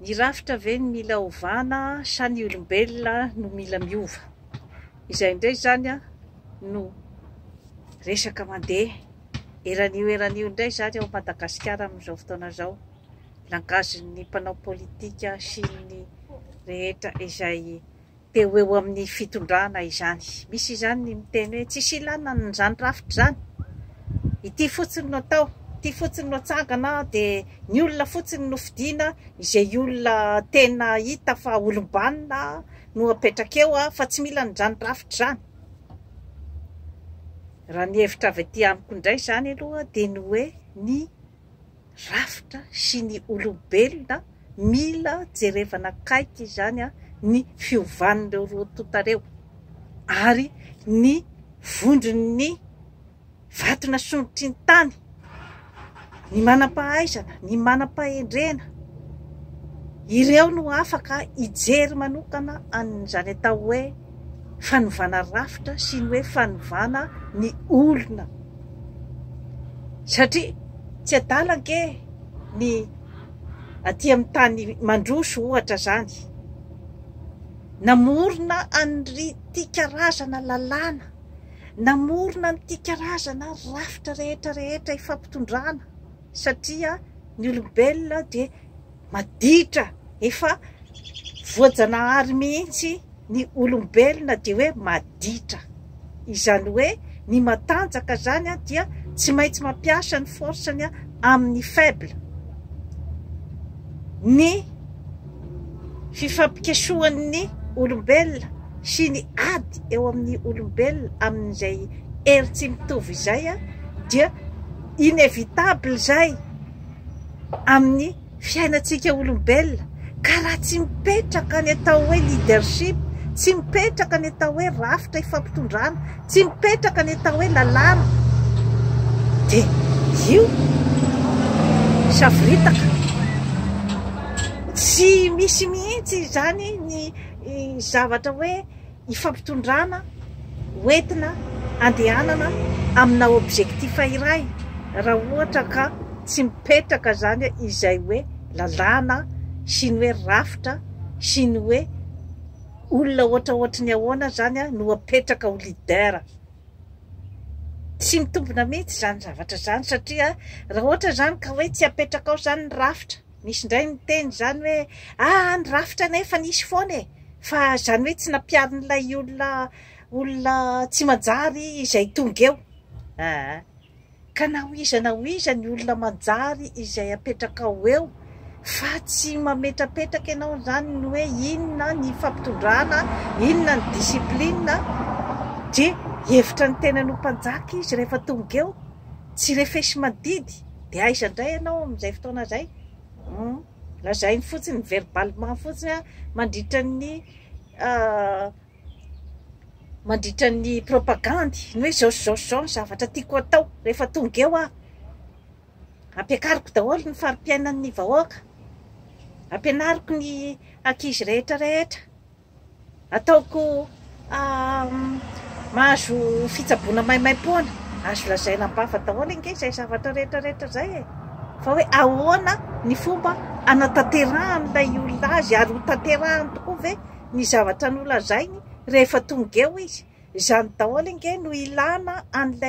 Ny rafitra ve no mila ovana sa ny olombelona no mila miova? Izay indray izany no resaka mandeha eran'io eran'io indray izany ao Madagasikara amin'izao fotoana izao. Langazin'ny mpanao politika sy ny rehetra izay Dia ho eo amin'ny fitondrana izany. Misy izany ny miteny hoe tsisy ilana an'izany rafitra izany. Ity fotsiny no atao, ity fotsiny no atsangana dia ny olona fotsiny no fidiana, izay olona tena hita fa olom-banona no apetraka eo fa tsy mila an'izany rafitra izany. Raha ny hevitra avy aty amiko indray izany aloha dia ny hoe ny. rafitra sy ny olombelona mila jerevana akaiky izany ny fiovan'ireo roa tonta ireo ary ny vondron'ny vato nasondrotry ny tany, ny manam-pahaizana, ny manam-pahendrena, ireo no afaka hijery manokana an'izany atao hoe fanovana rafitra sy ny hoe fanovana ny olona satria tsy adala ange ny aty amin'ny tany mandroso ohatra izany namorona an'ity karazana lalàna, namorona an'ity karazana rafitra rehetra rehetra ifampitondrana satria ny olombelona dia maditra efa voajanahary mihitsy ny olombelona dia hoe maditra izany hoe ny matanjaka zany a dia tsy maintsy mampiasa ny force ny amin'ny faible ny fifampikesohan'ny olombelona sy ny ady eo amin'ny olombelona amin'izay hery tsy mitovy izay a dia inévitable zay amin'ny fiainantsika olombelona ka raha tsy mipetraka ny atao hoe leadership, tsy mipetraka ny atao hoe rafitra ifampitondrana, tsy mipetraka ny atao hoe lalàna dia io savoritaka. Tsy misy mihitsy izany ny zavatra hoe. Ifampitondrana ho entina andehanana amina objectif iray raha ohatra ka tsy mipetraka izany izay hoe lalàna sy ny hoe rafitra sy ny hoe olona ohatra ohatry ny ahoana izany no apetraka ho leader. Tsy mitombina mihitsy izany zavatra izany satria raha ohatra izany ka hoe tsy apetraka ao izany ny rafitra, Nisy indray niteny izany hoe, aa ny rafitra anie efa nisy foana e! fa izany hoe tsy nampiharin'ilay olona olona tsy manjary izay tonga eo aa! ka na ho iza na ho iza ny olona manjary izay apetrakao eo fa tsy mametrapetraka ianao izany ny hoe inona ny fampitondrana, inona ny discipline dia hevitra ny tenany ho mpanjaka izy rehefa tonga eo, tsy refesi-mandidy. Dia aiza indray ianao amin'izay fotoana izay? Hum. Lazainy fotsiny verbalement fotsiny mandritra ny mandritra ny propagandy ny hoe zao sy zao sy zao ny zavatra tiako atao rehefa tonga eo aho ampiakariko daholo ny fari-piainan'ny vahoaka ampianariko ny ankizy rehetra rehetra Ataoko mahazo fitsaboana maimaim-poana. Azo lazaina am-bava daholo ange izay zavatra rehetra rehetra izay e! Fa hoe ahoana ny fomba hanatanterahan'ilay olona azy ary hotanterahany tokoa ve ny zavatra nolazainy rehefa tonga eo izy? Izany daholo ange no ilana an'ilay.